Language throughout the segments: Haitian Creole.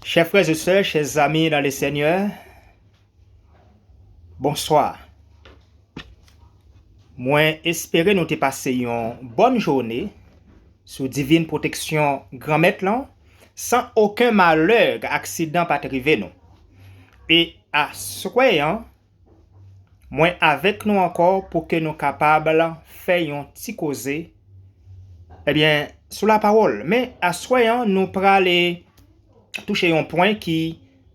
Chè frè ze sè, chè zami nan le Senyè, bonswa. Mwen espere nou te pase yon bòn joune sou divin pwoteksyon Granmèt lan san oken malè ak aksidan pa t rive nou. E aswè an, Mwen avèk nou ankò pou ke nou kapab fè yon ti koze ebyen sou la pawòl. Men aswè an nou prale touche yon pwen ki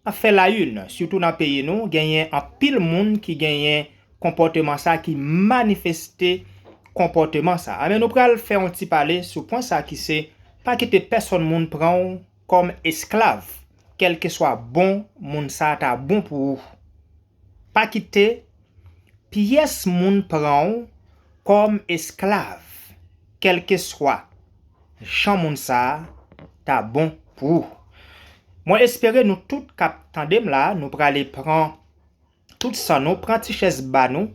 ap fè la yn sitou nan peyi nou genyen anpil moun ki genyen konpòteman sa ki manifeste konpòteman sa. Ebyen nou pral fè yon ti pale sou pwen sa ki se pa kite pèsòn moun pran w. kòm esklav kèlkeswa bon moun sa ta bon pou ou. Pa kite pyès moun pran w kòm esklav kèlkeswa jan moun sa ta bon pou ou. Mwen espere nou tout k ap tande m la nou prale pran tout san nou, pran ti chèz ba nou,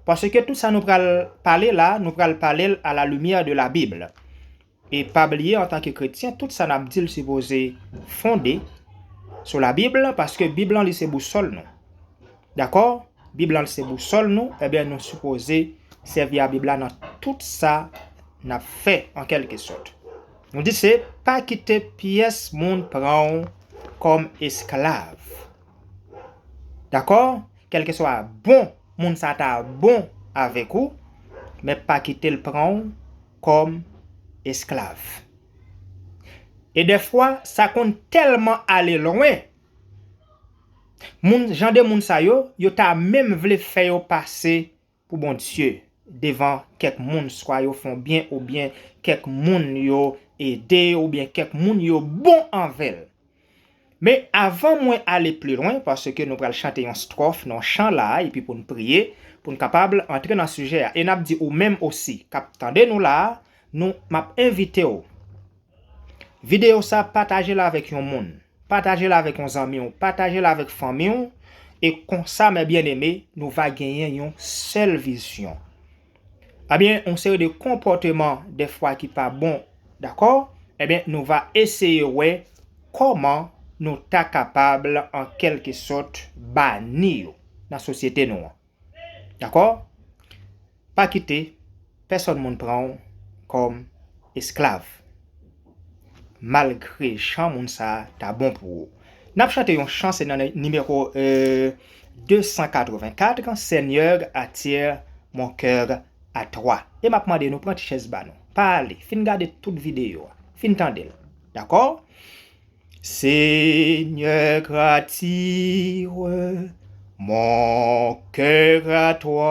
paske tout sa nou pral pale la nou pral pale l a la limyè de la Bible. E pa bliye antanke kretyen tout sa nap dil sipoze fonde sou la bib lan paske bib lan li se bousòl nou dakò bib lan se bousòl nou ebyen nou sipoze sèvi a bib la nan tout sa nap fè an kelke sòt nou di se pa kite pyès moun pranw kòm esklav dakò kelke swa bon moun sa ta bon avèk ou men pa kitel pranw kòm esklav. E dèfwa sa konn tèlman ale lwen, moun jan de moun sa yo, yo ta menm vle fè yo pase pou Bondye devan kèk moun swa yo fè w byen oubyen kèk moun yo ede oubyen kèk moun yo bon anvè l. Men avan mwen ale pli lwen, paske nou pral chante yon stròf nan yon chan la a epi pou n priye, pou n kapab antre nan sijè a. E n ap di ou menm osi k ap tande nou la a, nou, m ap envite w, videyo sa a pataje l avèk yon moun, pataje l avèk yon zanmi w, pataje l avèk fanmi w, e konsa mè byeneme, nou va genyen yon sèl vizyon, Ebyen yon seri de konpòteman dèfwa ki pa bon dakò ebyen nou va eseye wè kòman nou ta kapab an kèlke sòt bani yo nan sosyete nou an dakò pa kite pèsòn moun pranw kòm esklav. Malgre chan moun sa ta bon pou ou. Nap chante yon chan se nan nimewo 284 Seigneur attire mon coeur à toi e map mande nou pran ti chèz ba nou pa ale fin gade tout videyo a fin tandel dakò Seigneur attire mon coeur à toi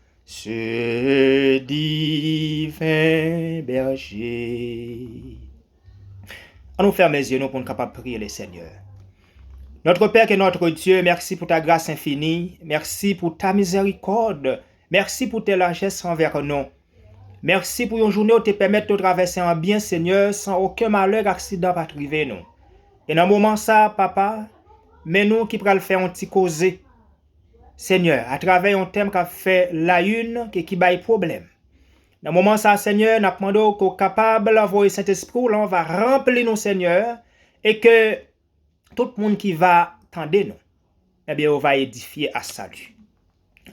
Ce divin berger. An nou fèmen zye nou pou n kapab priye le Senyè. Notre Père et notre Dieu, mèsi pou ta gras enfini, mèsi pou ta mizèrikòd, mèsi pou te lajès anvè nou. Mèsi pou yon jounen ou te pèmèt nou travèse an byen Senyè san oken malè ak aksidan pa t rive nou. E nan moman sa a Papa, men nou ki pral fè yon ti koze. Senyè, atravè yon tèm k ap fè layinn e ki bay pwoblèm. Nan moman sa a, Senyè, n ap mande w ke w kapab voye Sentespri w lan w va ranpli nou, Senyè, e ke tout moun ki va tande nou, ebyen yo va edifye a sali.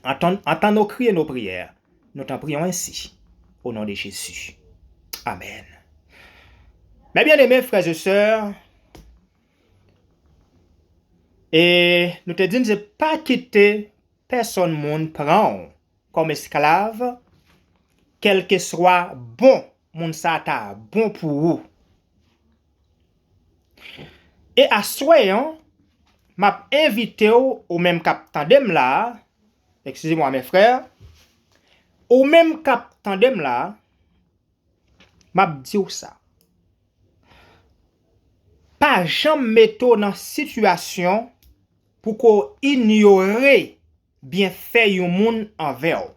Antann nou kriye nou priyè, nou tanpri w ensi, o non de Jezi. Amèn. Mè byeneme, frè e sè, E nou te di n se pa kite pèsonn moun pran w kòm esklav, kèlkeswa bon moun sa ta bon pou ou. E aswè an, m ap envite w, ou menm k ap tande m la a, Excusez-moi mes frères, ou menm k ap tande m la a, Map diw sa. Pa janm mete w nan sitiyasyon pou ko inyore byenfè yon moun anvè w.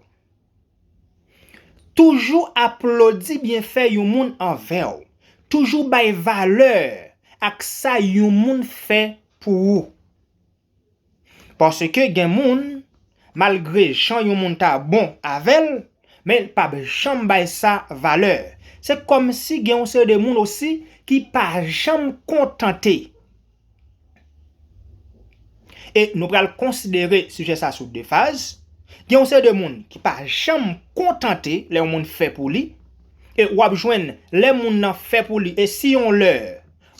Toujou aplodi byenfè yon moun anvè w. Toujou bay valè ak sa yon moun fè pou ou. Paske gen moun, malgre jan yon moun ta bon avè l, men l pap janm bay sa valè. Se kòmsi gen yon seri de moun osi ki pa janm kontante. E nou pral konsidere sijè sa sou de faz. Gen yon seri de moun ki pa janm kontante lè yon moun fè pou li. E w ap jwenn lè moun nan fè pou li e si yon lè,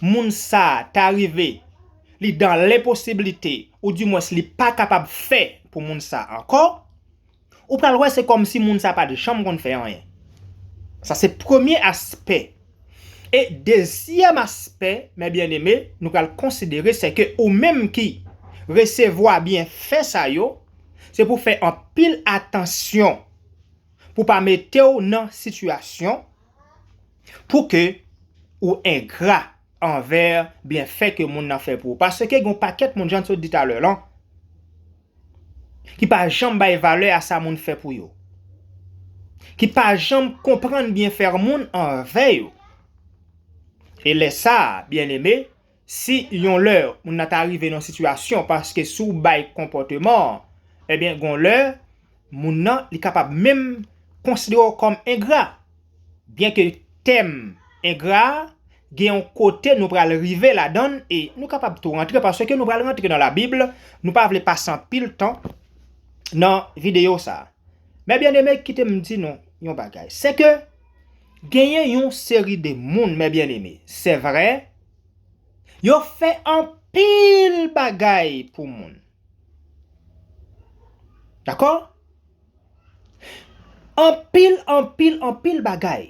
moun sa ta rive li dan lenposiblite ou di mwens li pa kapab fè pou moun sa ankò, ou pral wè se kòm si moun sa pa t janm konn fè anyen. Sa se premye aspè. E dezyèm aspè, mè byeneme, nou pral konsidere se ke ou menm ki resevwa byenfè sa yo, se pou fè anpil atansyon pou pa mete w nan sitiyasyon, Pou ke ou engra anvè byenfè ke moun nan fè pou ou. Paske gen yon pakèt moun, jan n sot di talè lan, ki pa janm bay valè a sa moun fè pou yo. Ki pa janm konprann byenfè moun anvè yo. E lè sa a, byeneme, Si yon lè moun nan ta rive nan yon sitiyasyon paske si w bay konpòteman an, ebyen gon lè moun nan li kapab menm konsidere w kòm engra. Byenke tèm engra a gen yon kote nou pral rive ladan l e nou kapab tou rantre paske nou pral rantre nan labib, nou pa vle pase anpil tan nan videyo sa. Men byeneme kite m di nou yon bagay, sèke. Genyen yon seri de moun, mè byen eme, sè vre, yo fè anpil bagay pou moun. Dakò? Anpil, anpil, anpil bagay.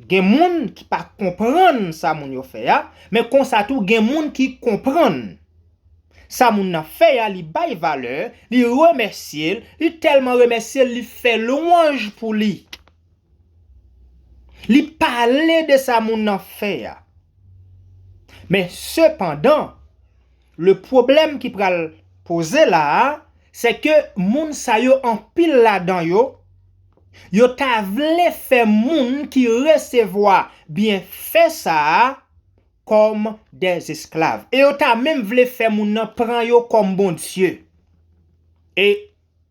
Gen moun ki pa konprann sa moun yo fè a, men konsa tou gen moun ki konprann. Sa moun nan fè a, li bay valè, li remèsye l, li tèlman remèsye l, li fè lwanj pou li. Li pale de sa moun nan fè a. Men sepandan, le pwoblèm ki pral poze la a, se ke moun sa yo anpil ladan yo, yo ta vle fè moun ki resevwa byenfè sa a kòm dè esklav. E yo ta menm vle fè moun nan pran yo kòm bondye. E.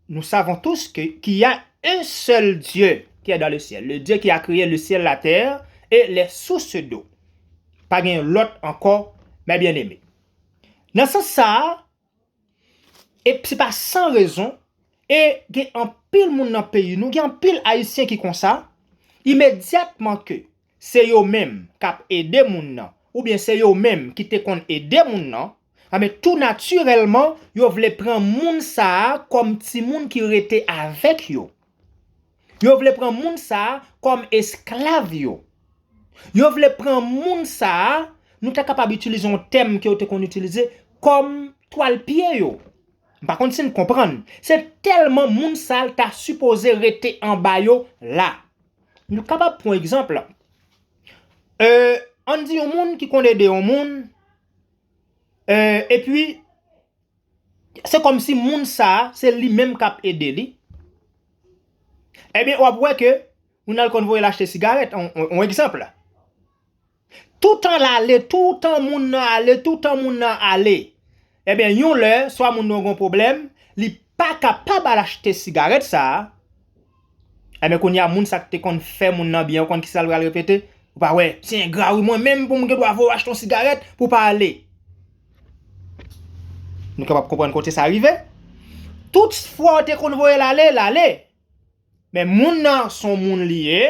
Nous savons tous que qu'il y a un seul Dieu qui est dans le ciel, le Dieu qui a créé le ciel, la terre et les sources d'eau. Pa gen yon lòt ankò, mè byeneme. Nan sans sa a, e se pa san rezon, e gen anpil moun nan peyi nou, gen anpil Ayisyen ki konsa, imedyatman ke se yo menm k ap ede moun nan, oubyen se yo menm ki te konn ede moun nan, enben tou natirèlman yo vle pran moun sa a kòm timoun ki rete avèk yo. Yo vle pran moun sa a kòm esklav yo. Yo vle pran moun sa a, nou ta kapab itilize yon tèm ke yo te konn itilize, kòm twal pye yo. M pa konn si n konprann. Se tèlman moun sa a l ta sipoze rete anba yo la. Nou kapab pran egzanp, ann di yon moun ki konn ede yon moun, epi se kòm si moun sa a se li menm k ap ede li, ebyen w ap wè ke moun nan l konn voye l achte sigarèt, yon egzanp. Toutan lale, toutan moun nan ale, toutan moun nan ale. Ebyen yon lè, swa moun nan gen yon pwoblèm, li pa kapab al achte sigarèt sa a, ebyen kounye a moun sa k te konn fè moun nan byen ou konn kisa l pral repete, ou pa wè, se engra wi mwen menm pou m gen dwa voye w achte yon sigarèt pou w pa ale. Nou kapab konprann kote sa rive? Tout fwa ou te konn voye l ale, l ale. Men moun nan son moun li ye,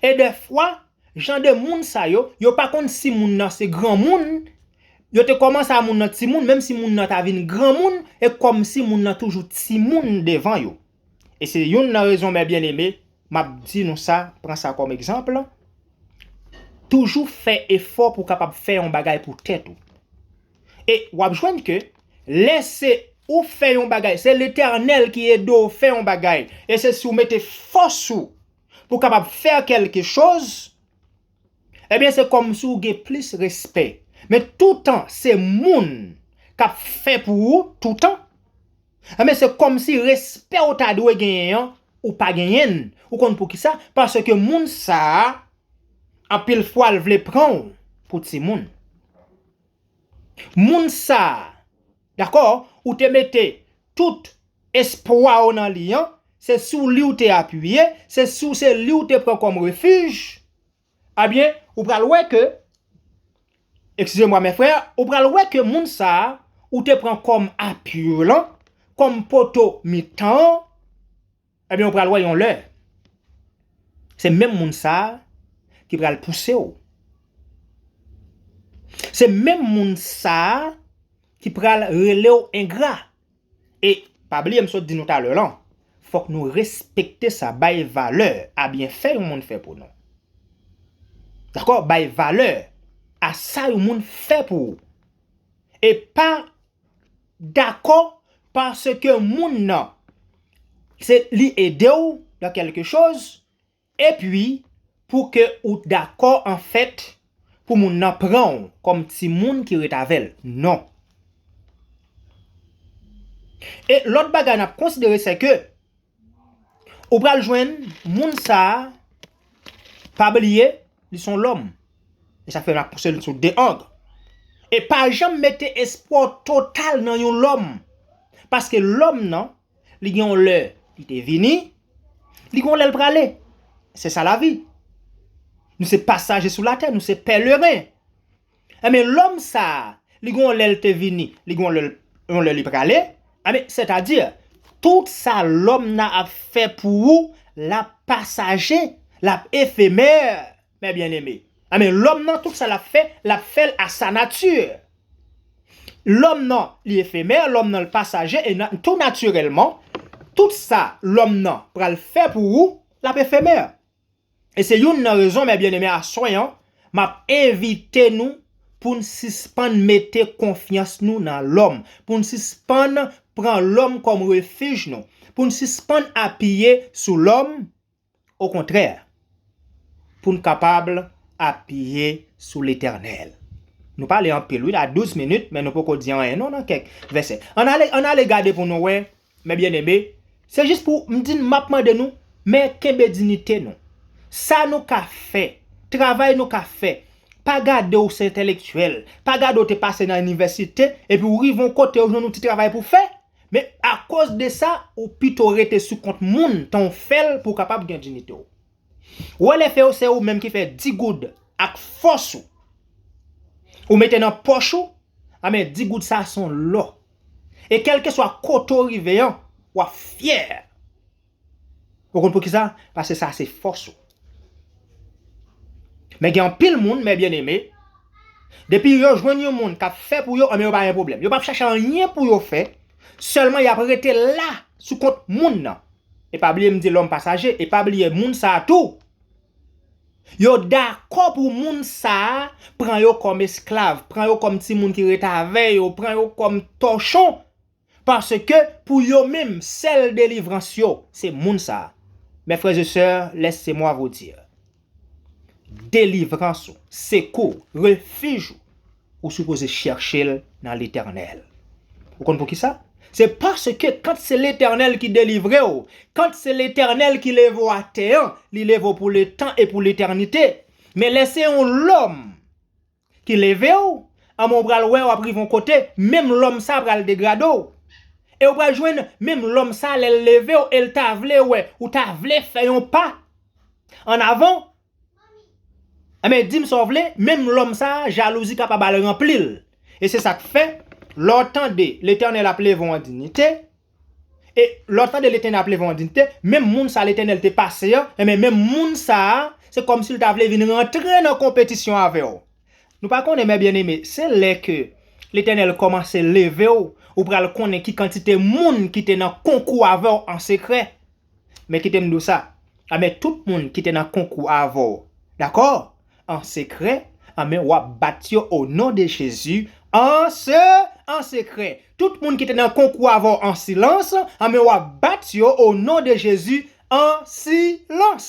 e dèfwa jan de moun sa yo, yo pa konn si moun nan se granmoun, yo te kòmanse a moun nan timoun, menm si moun nan ta vin granmoun, e kòmsi moun nan toujou timoun devan yo. E se youn nan rezon mè byeneme, m ap di nou sa, pran sa kòm egzanpl, toujou fè efò pou w kapab fè yon bagay pou tèt ou. E wap jwenn ke lè se ou fè yon bagay, se Letènèl ki ede w fè yon bagay, e se si w mete fòs ou pou w kapab fè kèlke choz, ebyen se kòmsi w gen plis respè. Men toutan se moun kap fè pou ou toutan, ebyen se kòmsi respè w ta dwe genyen an, ou pa genyen l. Ou konn poukisa? Paske moun sa a, anpil fwa l vle pran w pou timoun. Moun sa a, dakò, ou te mete tout espwa ou nan li an, se sou li ou te apiye, se sou se li ou te pran kòm refij, ebyen, ou pral wè ke, eksizemwa mè frè, ou pral wè ke moun sa a ou te pran kòm apiy ou lan, kòm poto mitan an, Ebyen ou pral wè yon lè se menm moun sa ki pral pouse w. Se menm moun sa ki pral rele w engra. E pa bliye m sot di nou talè lan, fòk nou respekte sa, bay valè a byenfè yon moun fè pou nou. Dakò, bay valè a sa yon moun fè pou ou. E pa Dakò paske moun nan se li ede w nan kelke choz epi pou ke ou t dakò anfèt pou moun nan pran w kòm timoun ki ret avè l. Non. E lòt bagay n ap konsidere sè ke. Ou pral jwenn moun sa a, pa bliye, li se yon lòm. E sa fè n ap pouse l sou de ang. E pa janm mete espwa w total nan yon lòm. Paske lòm nan, li gen yon lè li te vini, li gen yon lè l prale. Se sa lavi. Nou se pasaje sou latè, nou se pèleren. Enben, lòm sa a, li gen yon lè l te vini, li gen yon lè li prale, enben, sètadi, tout sa lòm nan ap fè pou ou, l ap pasaje, l ap efemè, mè byenneme. Enben, lòm nan, tout sa l ap fè, l ap fè l a sa nati. Lòm nan, li efemè, lòm nan, l pasaje, e tou natirèlman, tout sa lòm nan pral fè pou ou, l ap efemè. E se youn nan rezon mè byeneme aswè an map envite nou poun sispann mete konfyans nou nan lòm, poun sispann pran lòm kòm refij nou, poun sispann apiye sou lòm, okontrè poun kapab apiye sou Letènèl. Nou pale anpil wi la 12 minit men nou poko di anyen non nan kèk vèsè. Ann ale gade pou nou wè Mes bien-aimés, se jis pou m di n map mande nou, men kenbe dinite nou. Sa nou ka fè, travay nou ka fè, pa gade w se entèlektyèl, pa gade w te pase nan inivèsite, epi w rive yon kote ou jwenn yon ti travay pou w fè, men akoz de sa ou pito rete sou kont moun tan w fè l pou w kapab gen dinite w. Wè lè fè yo se ou menm ki fè 10 goud ak fòs ou, ou mete nan pòch ou, anben 10 goud sa son lò E kelkeswa kote w rive an, w ap fyè. Ou konn poukisa? Paske sa se fòs ou. Men gen anpil moun, mè byeneme, depi yo jwenn yon moun k ap fè pou yo, anben yo pa gen pwoblèm. Yo pap chache anyen pou yo fè, sèlman y ap rete la sou kont moun nan. E pa bliye m di lòm pasaje, e pa bliye moun sa a tou. Yo dakò pou moun sa a pran yo kòm esklav, pran yo kòm timoun ki ret avè yo, pran yo kòm tòchon, paske pou yo menm, sèl delivrans yo, se moun sa a. Mè frè ze sè, lèse mwa vo dir, delivrans ou, sekou ou, refij ou, Ou sipoze chèche l nan Letènèl. Ou konn poukisa? Se paske kant se Letènèl ki delivre w, kant se Letènèl ki leve w atè an, li leve w pou letan e pou letènite. Men lè se yon lòm ki leve w, anben ou pral wè w ap rive yon kote, menm lòm sa a pral degrade w. E ou pral jwenn menm lòm sa a lè l leve w e l ta vle wè ou ta vle fè yon pa annavan. Enben, di m sa w vle, menm lòm sa a, jalouzi kapab al ranpli l. E se sa k fè, lè w tande Letènèl ap leve w an diyite, e lè w tande Letènèl ap leve w an diyite, menm moun sa a Letènèl te pase an, enben menm moun sa a, se kòmsi l ta vle vin rantre nan konpetisyon avè w. Nou pa konnen, mè byeneme, se lè ke Letènèl kòmanse leve w, ou pral konnen ki kantite moun ki te nan konkou avè w an sekrè. Men kite m di w sa, anben tout moun ki te nan konkou avè w, dakò? An sekrè, anben w ap bat yo o non de Jezi, an se, an sekrè. Tout moun ki te nan konkou avè w an silans, anben w ap bat yo o non de Jezi, an silans.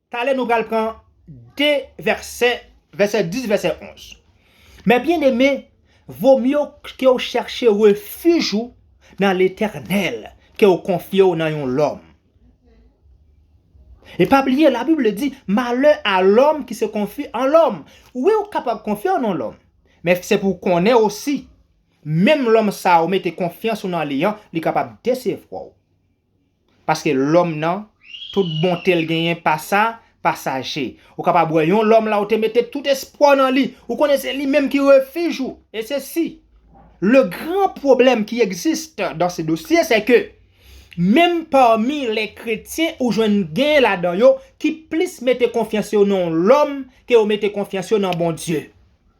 Talè nou pral pran de vèsè, vèsè 10, vèsè 11. Mè byeneme, vomye w ke w chèche refij ou nan Letènèl ke w konfye w nan yon lòm. E pa bliye Labib le di, malè a lòm ki se konfi an lòm. Wi ou kapab konfye w nan lòm, men se pou w konnen osi, menm lòm sa ou mete konfyans ou nan li an, li kapab desevwa w. Paske lòm nan, tout bonte l genyen pa sa, pa saje. Ou kapab wè yon lòm la ou te mete tout espwa w nan li, ou konnen se li menm ki refij ou. E se si. Le gran pwoblèm ki existe dans ce dossier c'est que menm parmi les kretyen ou jwenn gen ladan yo ki plis mete konfyans yo nan yon lòm ke yo mete konfyans yo nan Bondye.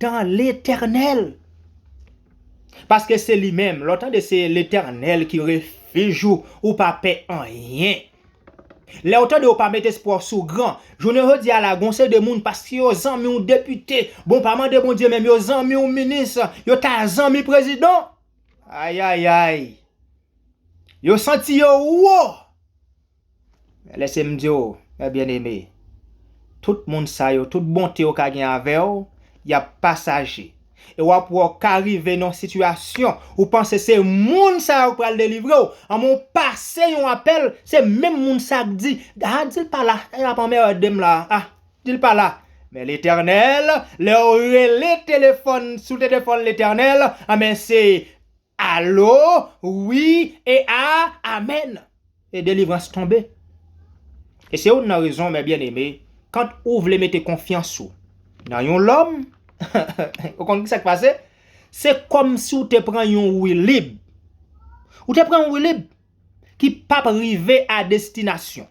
Dan Letènèl! Paske se li menm. Lè w tande se Letènèl ki refij ou, ou pa pè anyen. Lè w tande ou pa met espwa w sou gran. Jounen jodi a la gen yon seri de moun paske yo zanmi w depite, bon pa mande Bondye menm yo zanmi w minis, yo ta zanmi prezidan. Ayayay! Yo santi yo wo! Lese m di w, mè byeneme, tout moun sa yo, tout bonte yo ka gen avè w, y ap pasaje. E w ap wè w ka rive nan yon sitiyasyon, ou panse se moun sa yo k pral delivre w, anmwe w pase yon apèl, se menm moun sa k di, a di l pa la, y ap anmèède m la a, di l pa la. Men Letènèl, lè w rele telefòn, sou telefòn Letènèl, anben se. Alo wi e a amen e delivrans tonbe e se youn nan rezon mè byen eme kant ou vle mete konfyans ou nan yon lòm ou konn kisak pase se kòm si ou te pran yon wilib ou te pran yon wilib ki pap rive a destinasyon.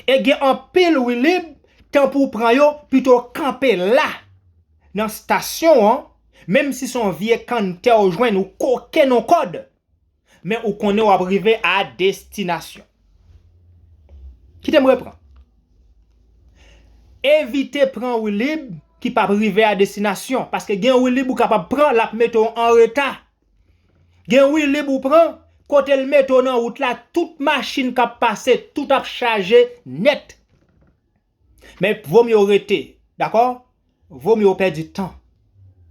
E gen anpil wi lib, tan pou w pran yo, pito w kanpe la nan stasyon an, menm si se yon vye kanntè w jwenn ou koke nan w kòd, men ou konnen w ap rive a destinasyon. Kite m repran, Evite pran wi lib ki p ap rive a destinasyon, paske gen wi lib ou kapab pran l ap mete w anreta. Gen wilib ou pran, kotel mete w nan wout la tout machin kap pase tout ap chaje nèt. Men vomye w rete dakò, vomye w pèdi tan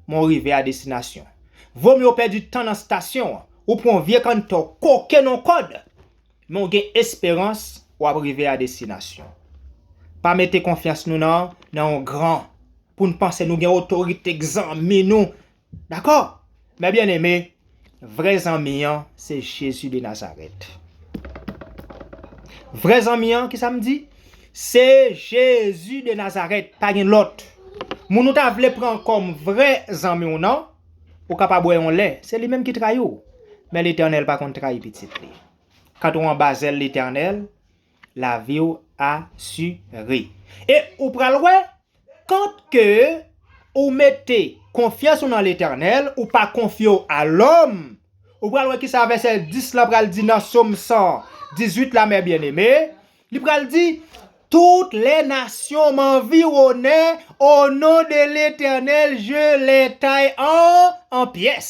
men w rive a destinasyon. Vomye w pèdi tan nan stasyon an, ou pran yon vye kannte w koke nan yon kòd men w gen esperans wap rive a destinasyon. Pa mete konfyans nou nan yon gran pou n panse nou gen otorite k zanmi nou. Dakò? Mè byeneme, vrè zanmi an se Jezi de Nazarèt. Vrè zanmi an, kisa m di? Se Jezi de Nazarèt, pa gen lòt. Moun ou ta vle pran kòm vrè zanmi w nan, ou ka pa bwè yon lè, se li menm ki trayi w. Men Letènèl pa konn trayi pitit li. Kant ou anba zèl Letènèl, lavi w asire. E ou pral wè, Kant ke ou mete konfyans ou nan Letènèl, ou pa konfye w a lòm, ou pral wè kisa vèsè 10 lan pral di nan Som 118 la, Mè byeneme, li pral di, Tout lè nasyon m anviwone o non de Letènèl je lè tay an an pyès.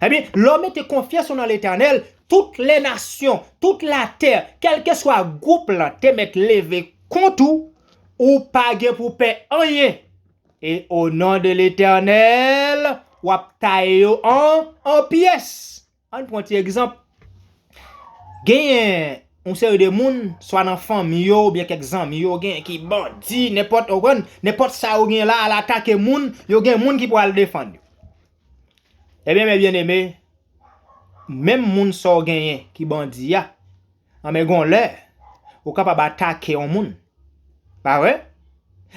Ebyen, lè w mete konfyans ou nan Letènèl, tout lè nasyon, tout latè, kèlkeswa gwoup lan te mèt leve kont ou, ou pa gen pou pè anyen, e o non de Letènèl, w ap taye yo an an pyès. Ann pran ti egzanp, genyen yon seri de moun, swa nan fanmi yo oubyen kèk zanmi yo, genyen ki bandi, nenpòt, ou konprann, nenpòt sa yo genyen la, al atake moun, yo gen moun ki pral defann yo. Ebyen men byen eme, menm moun sa w genyen ki bandi a, anben gon lè, ou kapab atake yon moun, pa vre?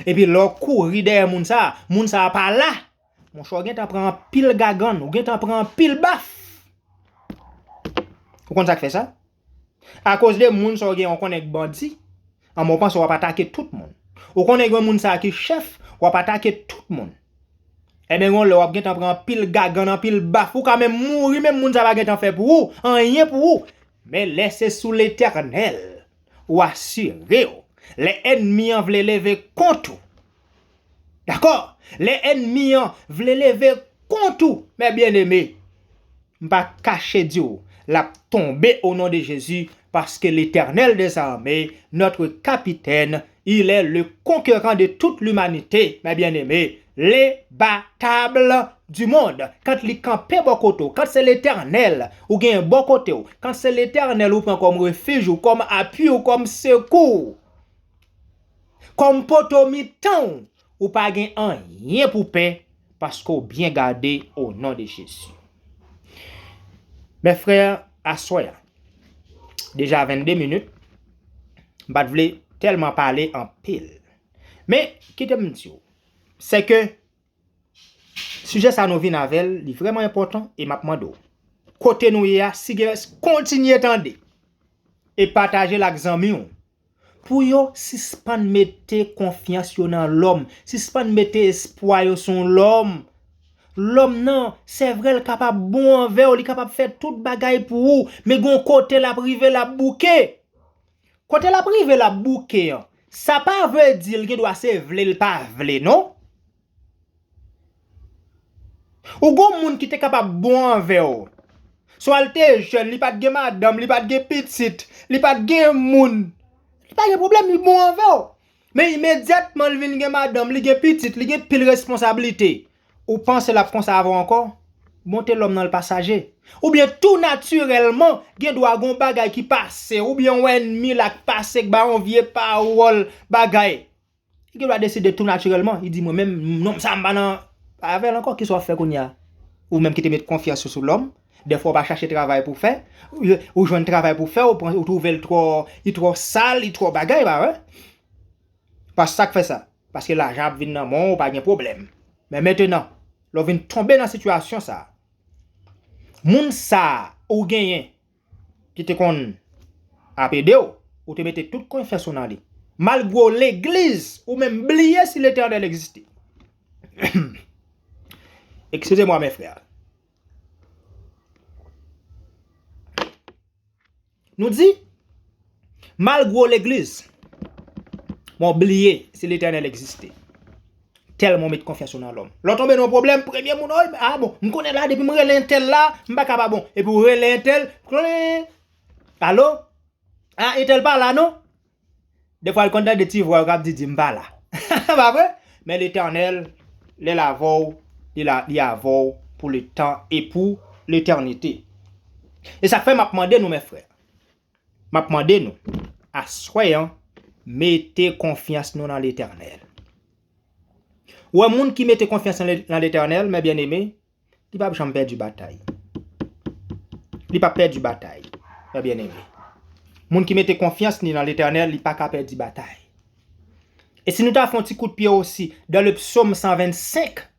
Epi lè w kouri dèyè moun sa, moun sa pa la, monchè w gentan pran anpil gagann, ou gentan pran anpil baf. Ou konn sa k fè sa? A koz de moun sa ou gen an ou konnen k bandi, anben ou panse wap atake tout moun. Ou konnen gen moun sa ki chèf, wap atake tout moun. Enben gen yon lè wap gentan pran anpil gagann, anpil baf, ou ka menm mouri menm moun sa pa gentan fè pou ou, anyen pou ou. Men lè se sou Letènèl ou asire w, lè ènmi an vle leve kont ou, Dakò? Lè ènmi an vle leve kont ou, mè byeneme, m pa kache di w, l ap tonbe o non de Jezi, paske Letènèl dè zame, nòtre Kapitèn, ilè le konkeran de tout limanite, mè byeneme, le batable di mond. Kant li kanpe bò kote w, kant se Letènèl ou genyen bò kote w, kant se Letènèl ou pran kòm refij ou, kòm apui ou, kòm sekou ou, Kòm poto mitan w ou pa gen anyen pou pè paske w byen gade o non de Jezi. Mes frères aswè a deja 22 minit m pat vle tèlman pale anpil men kite m di w se ke sijè sa nou vin avè l li vrèman enpòtan e m ap mande w kote nou ye a si gen kontinye tande e pataje l ak zanmi w Pou yo sispann mete konfyans yo nan lòm, sispann mete espwa yo sou lòm. Lòm nan, sè vre l kapab bon anvè w, li kapab fè tout bagay pou ou, men gon kote l ap rive l ap bouke. Kote l ap rive l ap bouke an, sa pa vle di l gen dwa se vle l pa vle non. Ou gon moun ki te kapab bon anvè w. Swa l te jèn, li pa t gen madanm, li pa t gen pitit, li pa t gen moun. Li pa gen pwoblèm, li bon anvè w. Men imedyatman li vin gen madanm, li gen pitit, li gen pil responsablite. Ou panse l ap konsa avè w ankò? Bonte lòm nan l pasaje. Oubyen tou natirèlman, gen dwa gon bagay ki pase, oubyen yon ènmi la k pase k ba yon vye pawòl, bagay. Li gen dwa deside tou natirèlman, li di mwen menm nonm sa m pa nan avè l ankò, kisa w ap fè kounye a? Ou menm ki te met konfyans ou sou lòm, dèfwa w pa chache travay pou w fè, ou jwenn travay pou w fè, ou twouve l twò, li twò sal, li twò bagay, pa vre? Pas sa k fè sa? Paske lajan ap vin nan men w, ou pa gen pwoblèm. Men mentenan, lè w vin tonbe nan sitiyasyon sa a, moun sa a ou genyen, ki te konn ap ede w, ou te mete tout konfyans ou nan li. Malgre w legliz, ou menm bliye si Letènèl egziste. Ekskize mwa men frè. Nou di? Mal gwo legliz. Men w bliye si Letènèl egziste. Tèlman w met konfyans ou nan lòm. Lè w tonbe nan yon pwoblèm, premye moun, oh, a bon, m konnen la depi m rele entèl la, m pa ka pa bon. Epi w rele entèl, klween, alo, a entèl pa la non. Defwa l konn tande ti vwa yo k ap di di m pa la. Se pa vre? Men Letènèl, lè l avè w, li la, li avè w pou letan e pou letènite. E sa k fè m ap mande nou, mè frè, M ap mande nou, aswè an, mete konfyans nou nan Letènèl. Ou wè, moun ki mete konfyans l nan Letènèl, mè byenneme, li pap janm pèdi batay. Li pap pèdi batay, mè byenneme. Moun ki mete konfyans ni nan Letènèl, li pa ka pèdi batay. E si nou ta fè yon ti kout pye osi dan le psaume 125,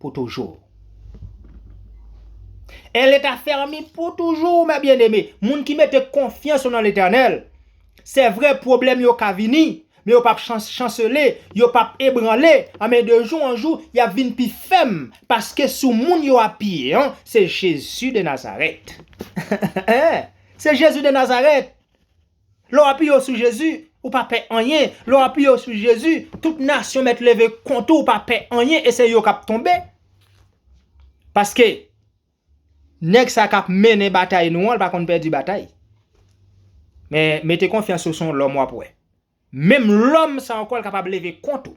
pou toujou. E leta fèmi pou toujou mè byen eme. Moun ki mete konfyans yo nan letènèl, se vre pwoblèm yo ka vini, men yo pap chansele, yo pap ebranle, anben de jou an jou, yap vin pi fèm, paske sou moun yo apiye an, se Jezi de Nazarèt. Se Jezi de Nazarèt! Lè w apiye w sou Jezi, ou pa pè anyen. Lè w apiye w sou Jezi, tout nasyon mèt leve kont ou, ou pa pè anyen e se yo k ap tonbe. Paske, nèg sa k ap mennen batay nou an, l pa konn pèdi batay. Men, mete konfyans ou sou yon lòm w ap wè. Menm lòm sa ankò l kapab leve kont ou.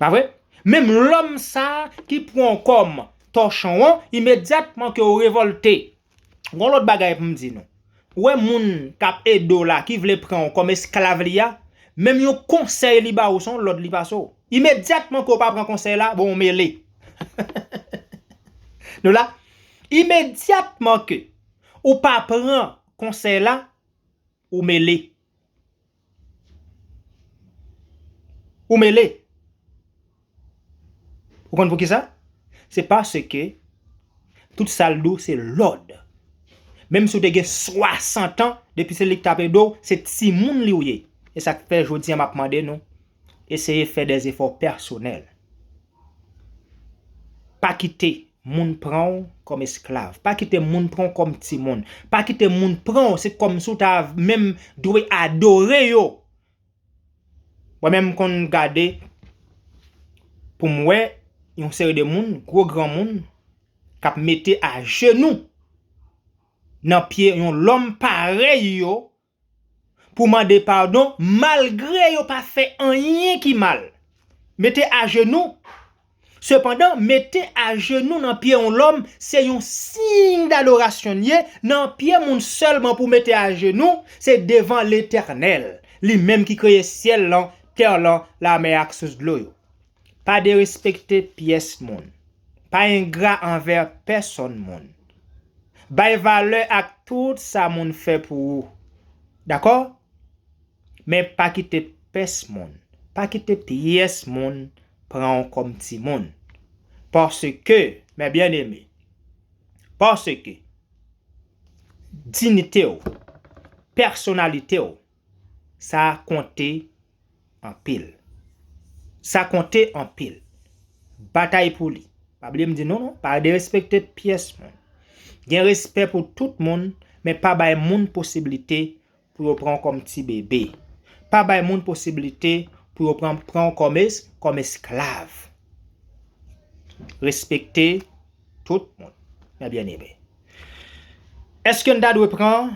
Pa vre? Menm lòm sa ki pran w kòm tòchon an, imedyatman ke w revòlte, Gon lòt bagay pou m di nou. Ou wè moun k ap ede w la, ki vle pran w kòm esklav li a, menm yon konsèy li ba ou se yon lòd li pase w. Imedyatman ke w pa pran konsèy la, bon ou mele. Nou la? Imedyatman ke ou pa pran konsèy la. Ou mele. Ou mele. Ou konn poukisa? Se paske tout sa l di w se lòd. Menm si w te gen 60 an, depi se li k t ap ede w, se timoun li w ye. E sa k fè jodi an m ap mande nou, Eseye fè de zefò pèsonèl. Pa kite moun pran w kòm esklav. Pa kite moun pran w kòm timoun. Pa kite moun pran w se kòm si w ta menm dwe adore yo. Mwen menm m konn gade pou m wè yon seri de moun, gwo granmoun, k ap mete ajenou nan pye yon lòm parèy yo pou mande padon malgre yo pa fè anyen ki mal. Mete ajenou. Sepandan, mete ajenou nan pye yon lòm se yon siy dadorasyon li ye, nan pye moun sèlman pou mete ajenou, se devan Letènèl, li menm ki kreye syèl lan, tè lan, lamè ak sous dlo yo. Pa derespekte pyès moun. Pa engra anvè pèsonn moun. Bay valè ak tout sa moun fè pou ou. Dakò? Men pa kite pès moun, pa kite pyès moun pran w kòm timoun. Paske, mè byeneme, paske, dinite w, pèsonalite w, Sa konte anpil. Sa konte anpil. Batay pou li. Pa bliye m di nou non, pa derespekte pyès moun. Gen respè pou tout moun, men pa bay moun posiblite pou yo pran w kòm ti bebe. Pa bay moun posiblite pou yo pran pran w kòm esklav. Respekte tout moun, mè byeneme. Èske n ta dwe pran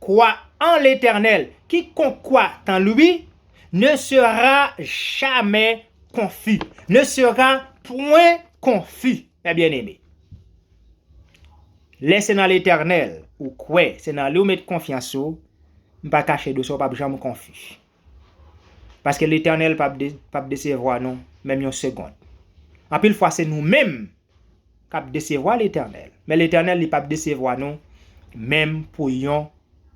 Kwa an Letènèl, kikonk kwa an Lui ne sera jamais confus, ne sera point confus, mes bien-aimés. Lè se nan Letènèl ou kwè, se nan Li ou met konfyans ou, m pa kache dosè ou pap janm konfi. Paske Letènèl pap desevwa nou, menm yon segond. Anpil fwa se nou menm K ap desevwa Letènèl. Men Letènèl li pap desevwa nou menm pou yon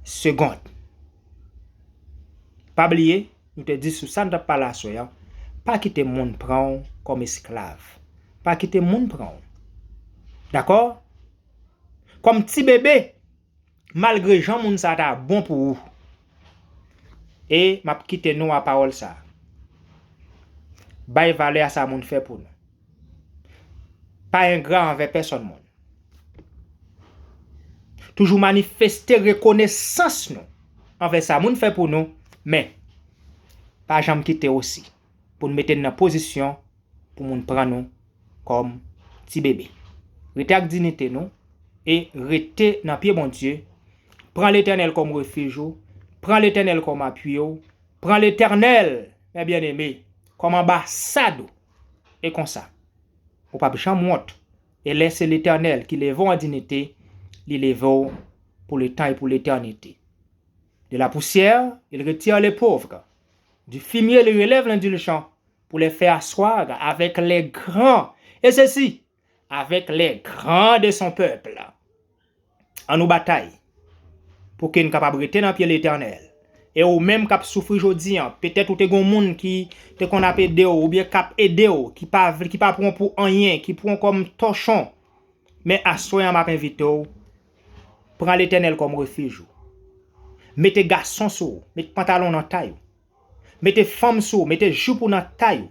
segond. Pa bliye, nou te di sou sa nou t ap pale aswè an, pa kite moun pran w kòm esklav. Pa kite moun pran w. Dakò? Kòm ti bebe. Malgre jan moun sa ta bon pou ou. E map kite nou a pawòl sa. Bay valè a sa moun fè pou nou. Pa engra anvè pèsòn moun. Toujou manifeste rekonesans nou anvè sa moun fè pou nou men pa janm kite osi pou nou mete n nan pozisyon pou moun pran nou kòm ti bebe. Rete ak dinite nou e rete nan pye Bondye, pran Letènèl kòm refij ou, pran Letènèl kòm apui ou, pran Letènèl, mè byeneme, kòm anbasad ou. E konsa, ou pap janm wont, e lè se Letènèl ki leve w an dinite, li leve w pou letan e pou letènite. De la poussière, il retire le pauvre, du fumier li relève l'indulgent, Pou les fè assoir avec les grands, et ceci, avec les grands de son peuple. An nou batay pou ke n kapab rete nan pye Letènèl. E ou menm k ap soufri jodi an, petèt ou te gen yon moun ki te konn ap ede w oubyen k ap ede w, ki pa vle, ki pa pran w pou anyen, ki pran w kòm tòchon, men aswè an m ap envite w, pran Letènèl kòm refij ou. Mete gason sou ou, met pantalon nan tay ou. Mete fanm sou ou, mete jupe ou nan tay ou.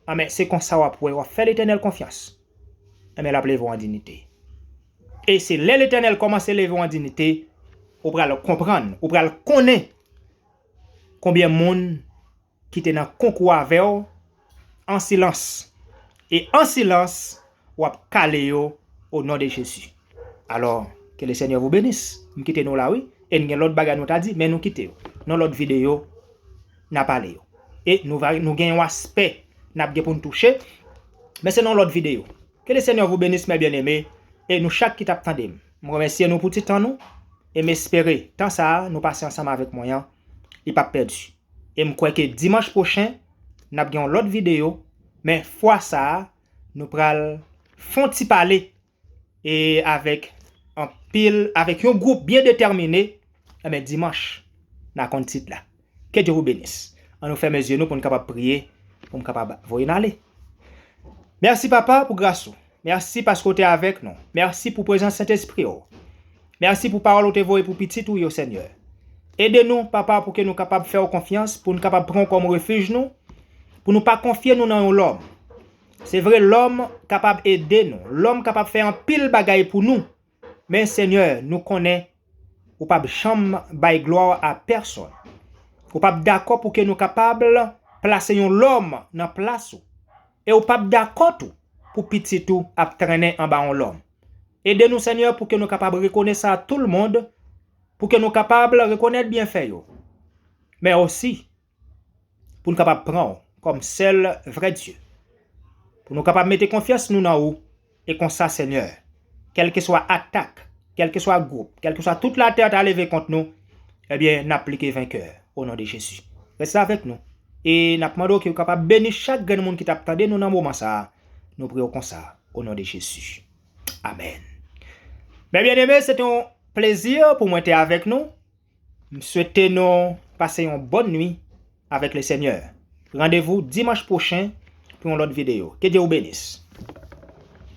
Anben, se konsa w ap wè, w ap fè Letènèl konfyans. Anben, l ap leve w an dinite. E se lè Letènèl kòmanse leve w an dinite, ou pral konprann, ou pral konnen konbyen moun ki te nan konkou avè w, an silans e an silans wap kale yo o non de jezi alò ke le senyè vou benis m kite nou la wi e n gen lòt bagay nou ta di men nou kite yo nan lòt videyo na pale yo e nou va nou gen yon aspè nap gen pou n touche men se nan yon lòt videyo ke le senyè vou benis mè byeneme e nou chak ki tap tande m m remèsye nou pou ti tan nou e m espere tan sa nou pase ansanm avèk mwen an li pap pèdi. E m kwè ke dimanch pwochen n ap gen yon lòt videyo, men fwa sa a nou pral fon ti pale e avèk anpil avèk yon gwoup byen detèmine enben dimanch na konn tit la. Ke Dye wou benis. An nou fèmen zye nou pou n kapab priye pou m kapab voye n ale. Mèsi papa pou gras ou. Mèsi paske ou te avèk nou. Mèsi pou prezans Sentespri ou. Mèsi pou pawòl ou te voye pou pitit ou yo, Senyè. Ede nou, Papa, pou ke nou kapab fè ou konfyans, pou nou kapab pran ou kòm refij nou, pou nou pa konfye nou nan yon lòm. Se vre, lòm kapab ede nou, lòm kapab fè anpil bagay pou nou, Men Senyè, nou konnen Ou p ap janm bay glwa a pèsonn. Ou p ap dakò pou ke nou kapab plase yon lòm nan plas Ou. E Ou p ap dakò tou pou pitit Ou ap trennen anba yon lòm. Ede nou Senyè pou ke nou kapab rekonèt sa a toulmond, pou ke nou kapab rekonèt byenfè yo, men osi pou n kapab pran ou kòm sèl vrè Dye, pou nou kapab mete konfyans nou nan ou, e konsa Senyè, kèlkeswa atak, kèlkeswa gwoup, kèlkeswa tout latè ta leve kont nou, ebyen n ap plike venkè o non de Jezi. Rès la avèk nou, e n ap mande w ke ou kapab beni chak grenn moun ki t ap tande nou nan moman sa a, nou priye w konsa o non de Jezi. Amèn. Mè byeneme, se te yon plezi pou mwen te avèk nou. M swete nou pase yon bòn nwi avèk le senyè. Randevou dimanch pwochen pou yon lòt video. Ke Dye ou benis.